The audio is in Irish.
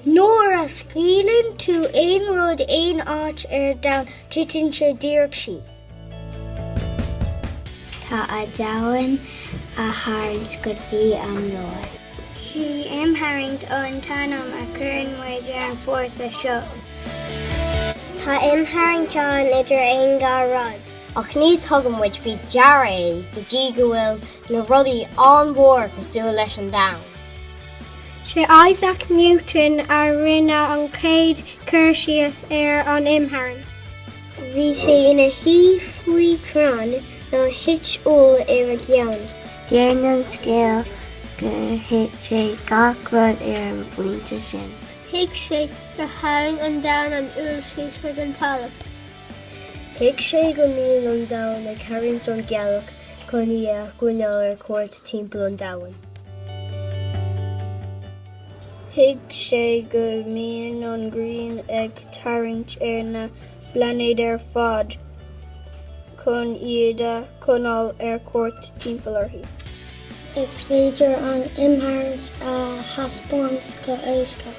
Nuair a scaoileann tú aon rud aon áit ar domhan, titeann sé díreach síos. Tá an domhan á tharraingt go dtí an lár. Sí imtharraingt an t-ainm a chuireann muid ar an bhfórsa seo. Tá imtharraingt ann idir aon dhá rud. Ach ní thugann muid faoi deara é go dtí go bhfuil na rudaí an-mhór cosúil leis an domhan. Sé Isaac Newton a rinne an chéad cur síos ar an imtharraingt. Bhí sé ina shuí faoi chrann nuair a thit úll ar a cheann. Deir an scéal gur thuig sé gach rud ar an bpointe sin. Thuig sé gur tharraing an domhan an úll síos chuig an talamh. Thuig sé go mbíonn an domhan ag tarraingt an ghealach chun í a choinneáil ar cuairt timpeall an domhain. Thuig sé go mbíonn an ghrian ag tarraingt ar na bplainéid ar fad chun iad a choinneáil ar cuairt timpeall uirthi. Is féidir an imtharraingt a thaispeáint go héasca.